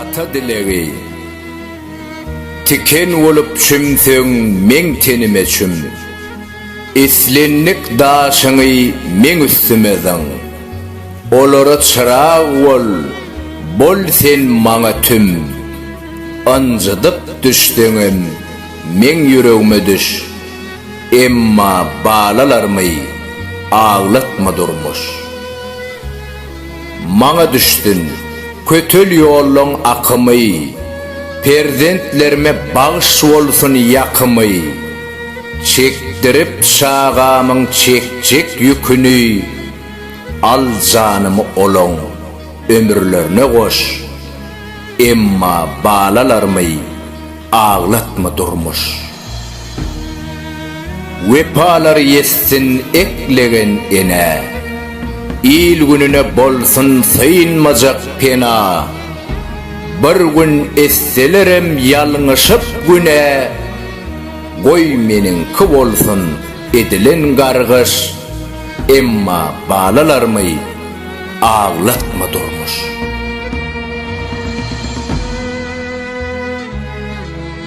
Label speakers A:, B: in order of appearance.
A: Ata dilegi Tiken bolup çümseň meň tenime çüm Islendik daşyňy meň üstüme zyň Olara çyrag bol, bol sen maňa tüm Ynjydyp düşseňem meň ýüregime düş. Emma balalarymy aglatma durmuş. Maňa düşsün kötel ýollaň akymy, Perzentlerime bagş bolsun ýakymy. Çekdirip çagamyň çekjek ýüküni, Al janymy olaň ömürlerine goş. Emma balalarymy aglatma durmuş. Wepalar ýetsin eklegen enä. Il-gününe bolsun synmajak pena. Bir gün etselerem ýalňyşyp günä, Goý meniňki bolsun edilen gargyş, Emma balalarmy aglatma durmuş.